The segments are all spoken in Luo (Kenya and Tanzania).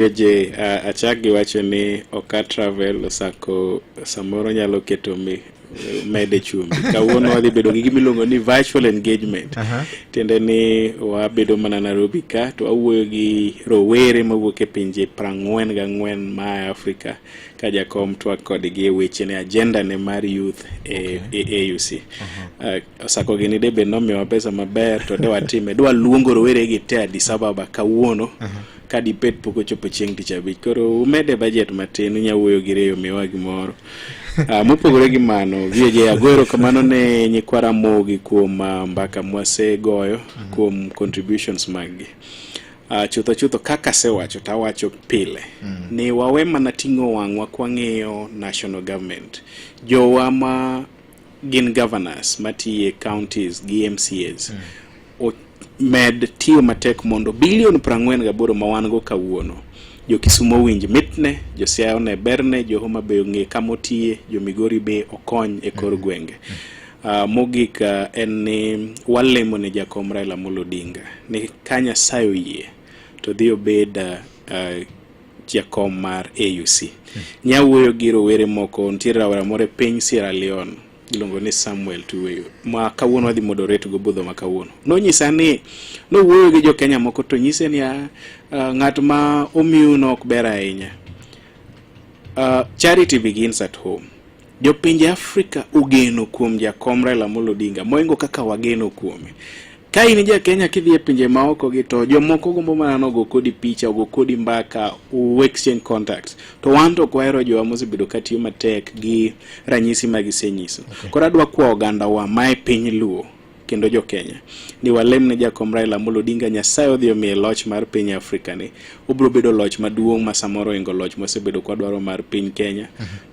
AJ, uh, achak gi wacho ni oka travel osako samoro nyalo keto mi mede chumbi kawuono wadhi bedo gi gimiluongo ni virtual engagement uh -huh. tiende ni wabedo mana Nairobi ka to wawuoyo gi rowere mawuok e pinje prang'wen ga ng'wen ma Afrika ka jakom twak kodgi e weche ne agenda ne mar youth e, okay. e AUC e uh -huh. uh, osako gini de be nomiwa pesa maber to de watime dwa luongo rowere gi te Addis Ababa kawuono uh -huh ka dipet pok ochopo chieng' tich abich koro umede bajet matin unya wuoyo gi reyo miwa gimoro uh, mopogore gi mano VJ agwero kamano ne nyikwa Ramogi kuom uh, mbaka mwasegoyo mm -hmm. kuom contributions maggi uh, chutho chutho kaka asewacho to awacho pile mm -hmm. ni wawe mana ting'o wang'wa kwang'iyo national government jowa ma gin governors matiye counties gi MCAs mm. o, med tiyo matek mondo bilion prang'wen gaboro ma wan go kawuono jo Kisumo owinj mitne, jo Siaya one berne, jo Homa Bay ong'e kama otiye, jo Migori be okony e kor mm-hmm. gwenge. Uh, mogik uh, en ni walemo ne jakom Raila Amolo Odinga ni ka Nyasaye oyie to dhi obed uh, uh, jakom mar AUC hmm. nyawuoyo gi rowere moko nitiere rawera moro e piny Sierra Leone iluongo ni Samuel Tuweyo ma kawuono wadhi moderate go budho ma kawuono nonyisa ni nowuoyo gi jo Kenya moko to nyise ni ah, ah, ng'at ma omiu no ok ber ahinya uh, charity begins at home Jopinje Afrika ogeno kuom jakom Raila Amolo Odinga moingo kaka wageno kuome. Ka in ja Kenya kidhi e pinje maoko gi to jomoko gombo mana nogo kodi picha, ogo kodi mbaka, u exchange contacts. To wan to kwahero jowa mosebedo ka tiyo matek gi ranyisi ma gisenyiso. Okay. Koro adwa kwa oganda wa mae piny Luo kendo jo Kenya ni walem ne jakom Raila Amolo Odinga Nyasaye odhi omiye loch mar piny Afrika ni. Obiro bedo loch maduong' ma samoro ingo loch mosebedo kwadwaro mar piny Kenya. Mhm.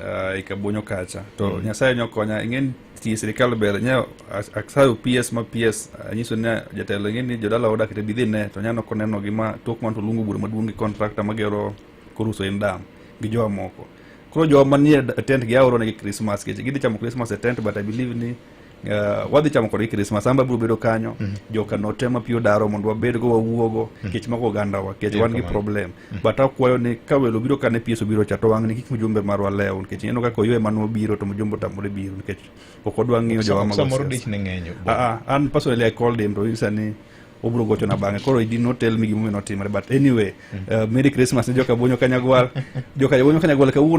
uh, e kabonyo kacha to mm. nyasaye ne okonya ing'eni ti sirikal ber nya aksayo ps ma ps anyiso ni jatelo ing'e ni jodala oda kete bidhi ne to nya noko neno gima tok man to luongo bura maduong' gi kontrakta magero koruso en dam gi jowa moko koro jowa manie tent gi aoro negi krismas keche gidhi chamo krismas e tent but i believe ni Uh, wadhi chamo kodgi krismas amba biro bedo kanyo mm -hmm. joka notema piyo daro mondo wabedgo wawuogo mm -hmm. kech mago ogandawa kech wan gi problem mm -hmm. but akwayo ni ka welo biro kane pies obiro cha to wang' ni kik mjumbe marwa lew nikech ineno kaka oywe mano biro to mjumbe otamore biro nikech ok odwa ng'iyo jowa magosamoro dich ne ng'enyo uh, uh, an personally i called him to nyisa ni obiro gocho na bang'e koro did not tell me gimomiyo notimore but anyway mm -hmm. uh, merry christmas ne joka bonyo kanyagwal joka bonyo kanyagwal kawuono